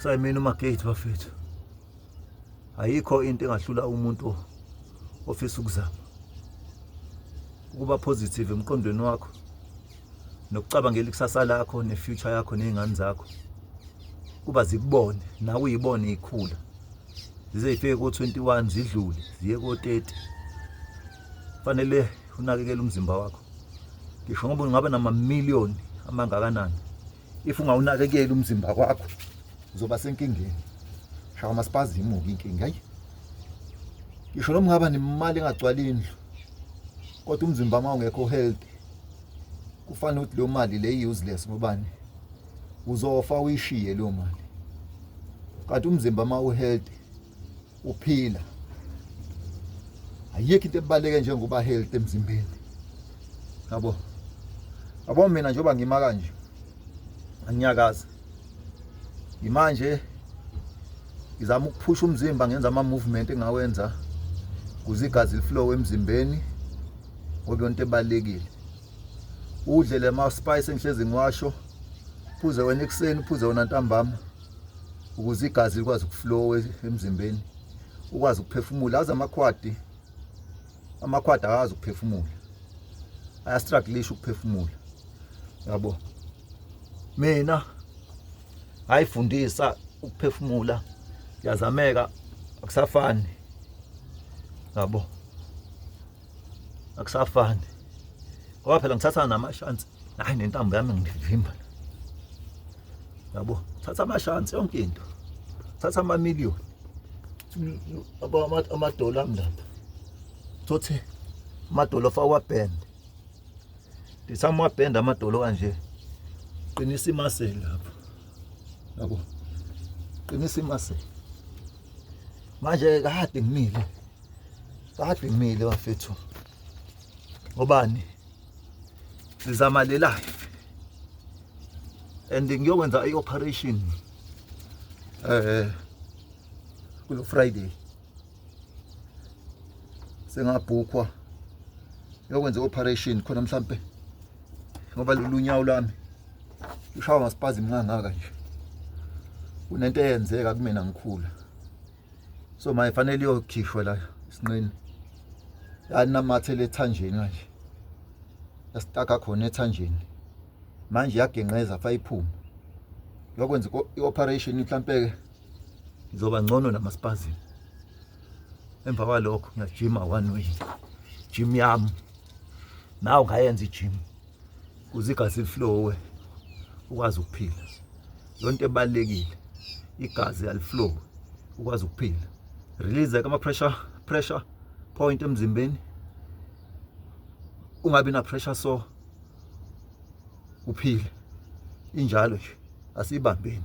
sayimina umagate bafethu ayikho into engahlula umuntu ofisa ukuzama ukuba positive emqondweni wakho nokucabangela ikusasa lakho nefuture yakho nezingane zakho kuba zikubone nawe uyibone ikhula zize zifike ko-21 zidlule ziye ko-30 fanele unakekele umzimba wakho ngisho ngoba ungaba namamiliyoni amangakanani if ungawunakekeli umzimba wakho uzoba senkingeni shaka masipazi imuka inkinga ayi ngisho noma ungaba nemali engagcwala indlu kodwa umzimba uma ungekho healthy kufanele ukuthi leyo mali le useless ngobani uzofa uyishiye leyo mali kanti umzimba uma uhealthy uphila ayikho into ebaleke njengoba health emzimbeni yabo yabo mina njengoba ngima kanje angiyakazi imanje ngizama ukuphusha umzimba ngenza ama movement engawenza kuze igazi liflow emzimbeni ngoba yonto ebalekile udle le ma spice engihlezi ngiwasho phuze wena ekuseni phuze wena ntambama ukuze igazi likwazi ukuflowa emzimbeni ukwazi ukuphefumula aze amakhwadi amakhwadi akazi ukuphefumula ayastrugglisha ukuphefumula yabo mina ayifundisa ukuphefumula yazameka akusafani yabo akusafani ngoba phela ngithatha namashansi hayi nentambo yami ngivimba yabo thatha amashansi yonke into thatha amamiliyoni amadola ami lapha thothi amadola fawabhende ndithatha amabhende amadolo kanje qinisa imaseli lapho yabo qinisa imaseli manje kade ngimile Badumile bafethu. Ngobani? Sizama le life. And ngiyokwenza i operation eh kulo Friday. Sengabhukwa. Ngiyokwenza i operation khona mhlambe ngoba lulunyawo lami ushawa ngasipazi mngangaka nje kunento eyenzeka kumina ngikhula so maye fanele iyokhishwa la isinqeni yanamathele ethanjeni manje yasitaka khona ethanjeni manje yagenqeza fa iphume yokwenza i-operation mhlampe-ke ngizoba ngcono namaspazini emva kwalokho ngiyajima one way jim yami nawe ngayenza ijim kuze igazi liflowe ukwazi ukuphila yonto ebalekile igazi aliflow ukwazi ukuphila release ama pressure pressure point emzimbeni ungabi na pressure so uphile injalo nje asibambeni